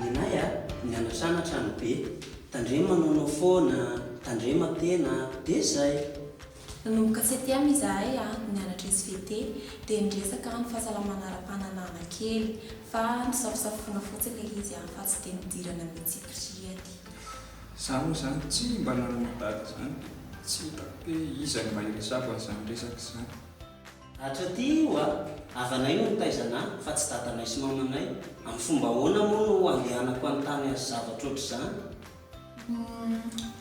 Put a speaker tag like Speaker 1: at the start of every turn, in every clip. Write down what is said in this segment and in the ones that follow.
Speaker 1: Nenay a, mianatra an hatrany be, tandremo manaonao foana, tandrema tena, dia zay. Nanomboka septième izahay a, nianatra svt, dia niresaka ny fahasalamana ara-pananahana kely, fa nisafosafoana fotsy ilay izy a, fa tsy dia nidirana mihitsy prihady. Za moa zany tsy mba nanana daty zany, tsy hitako hoe iza no mahery zavany zany resaka zany. Hatraty oa, havanay no nitaiza anah fa tsy dadanay sy mamanay, amin'ny fomba ahoana moa no handehanako hanontany azy zavatra ohatr'izany? Uhm,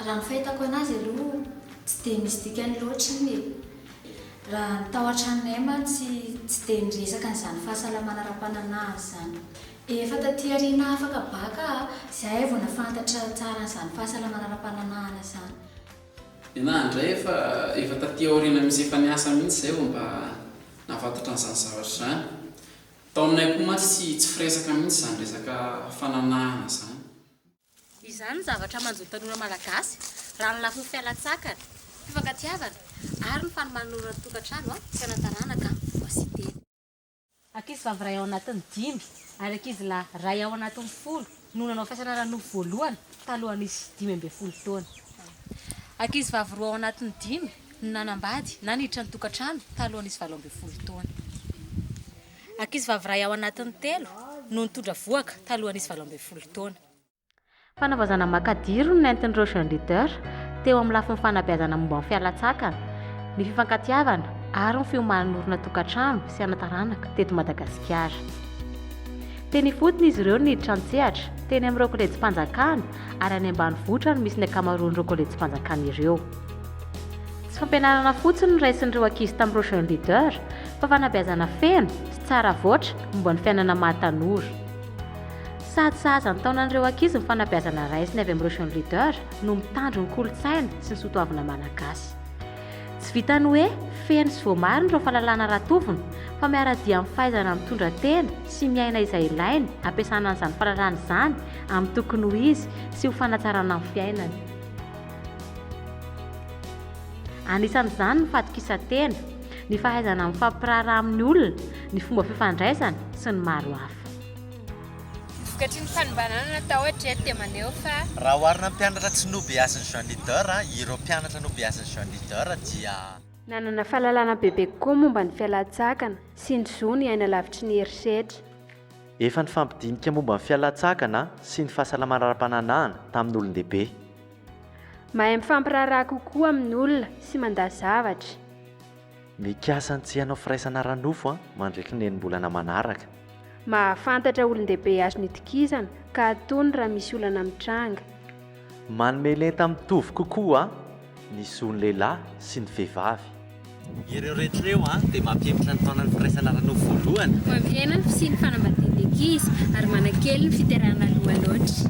Speaker 1: raha ny fahitako anazy aloha tsy dia misy dikany loatra iny e! Raha ny tao an-tranonay mantsy tsy dia niresaka an'izany fahasalamana ara-pananah izany. Efa taty aoriana afaka baka aho, izay vao nahafantatra tsara an'izany fahasalamana ara-pananahana izany. Nenaha indray efa efa taty aoriana misy efa niasa mihitsy izay vao mba nahafatatra an'izany zavatra izany. Tao aminay koa mantsy tsy tsy firesaka mihitsy izany resaka fananahana izany. Izany no zavatra manjo ny tanora malagasy raha ny lafiny fialan-tsakana, fifankatiavana ary ny fanomana ny ora ny tokantrano, fiainantaranaka, voasiteny. Ankizivavy iray ao anatin'ny dimy ary ankizilahy iray ao anatin'ny folo no nanao fiasana ara-nofo voalohany taloha nisy dimy ambin'ny folo taona. Ankizivavy roa ao anatin'ny dimy no nanambady na niditra ny tokantrano taloha nisy valo ambin'ny folo taona. Ankizivavy iray ao anatin'ny telo no nitondra vohoka taloha nisy valo ambin'ny folo taona. Fanavaozana makadiry no nentin'ireo Jeunes Leaders teo amin'ny lafiny fanabeazana momba ny fialantsakana, ny fifankatiavana ary ny fiomanan'orina tokantrano sy ana-taranaka teto Madagasikara. Teny ifotony izy ireo no niditra an-tsehatra, teny amin'ireo Kolejim-panjakana ary any ambanivohitra no misy ny ankamaroan'ireo Kolejim-panjakana ireo. Tsy fampianarana fotsiny no raisin'ireo ankizy tamin'ireo Jeunes Leaders fa fanabeazana feno sy tsara avoatra momba ny fiainana maha tanora. Sady sahaza ny taonan'ireo ankizy ny fanabeazana raisina avy amin'ireo Jeune Leader no mitandro ny kolontsaina sy ny soatoavina malagasy. Tsy vitan'ny hoe feno sy voamarina ireo fahalalana ratovina fa miara-dia amin'ny fahaizana mitondra tena sy miaina izay ilainy hampiasana an'izany fahalalana izany amin'ny tokony ho izy sy ho fanatsarana ny fiainany. Anisan'izany ny fahatokisan-tena, ny fahaizana mifampiraharaha amin'ny olona, ny fomba fifandraisana, sy ny maro hafa. Vokatry ny fanombanana natao hatreto dia maneho fa. Raha oharina amin'ny mpianatra tsy nobeasin'i Jean Leader, ireo mpianatra nobeasin'i Jean Leader dia. Nanana fahalalana bebe kokoa momba ny fialan-tsakana sy ny zo ny aina lavitry ny herisetra. Efa nifampidinika momba ny fialan-tsakana sy ny fahasalamana ara-pananahana tamin'olon-dehibe. Mahay mifampiraharaha kokoa amin'olona sy mandà zavatra. Mikasa ny tsy hanao firaisana ara-nofo mandritry ny enim-bolana manaraka. Mahafantatra olon-dehibe azony itokisana ka atony raha misy olana mitranga. Manome lenta mitovy kokoa ny zon'ny lehilahy sy ny vehivavy. Ireo rehetra ireo dia mampihemotra ny taonan'ny firaisana ara-nofo voalohany. Mampihemotra ny fisian'ny fanambadian'ny ankizy ary manakely ny fiterahana aloha loatra.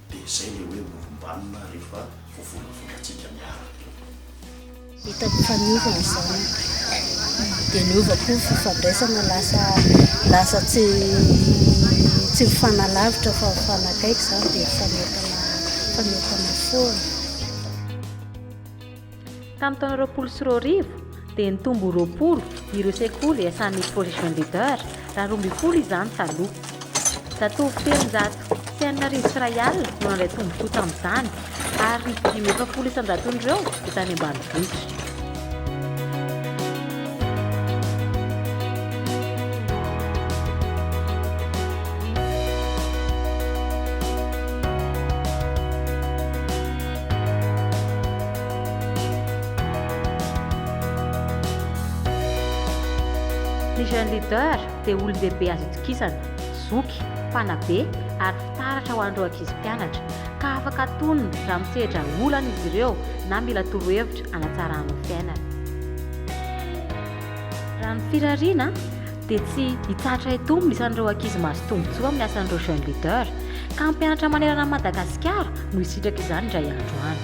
Speaker 1: Dia izay ilay hoe morombanona rehefa voavolavolàntsika miaraka. Hitako fa niova ny zanako, dia niova koa ny fifandraisana, lasa lasa tsy tsy mifanalavitra fa mifanakaiky izany dia mifanentana mifanentana foana. Tamin'ny taona roapolo sy roa arivo, dia nitombo ho roapolo ireo sekoly iasan'ny Projet Jeune Leader, raha roa ambin'ny folo izany taloha. Zatovo telonjato sy enina arivo sy iray alina no nandray tombontsoa tamin'izany, ary ny dimy amby efapolo isanjaton'ireo dia tany ambanivohitra. Ny Jeune Leader dia olon-dehibe azo itokisana, zoky, mpanabe ary fitaratra ho an'ireo ankizy mpianatra, ka afaka antonony raha misedra olana izy ireo na mila torohevitra hanatsarana ny fiainany. Raha ny firariana, dia tsy hitsahatra hitombo ny isan'ireo ankizy mahazo tombontsoa amin'ny asan'ireo Jeunes Leaders, ka hampianatra manerana an'i Madagasikara no hisitraka izany indray andro any.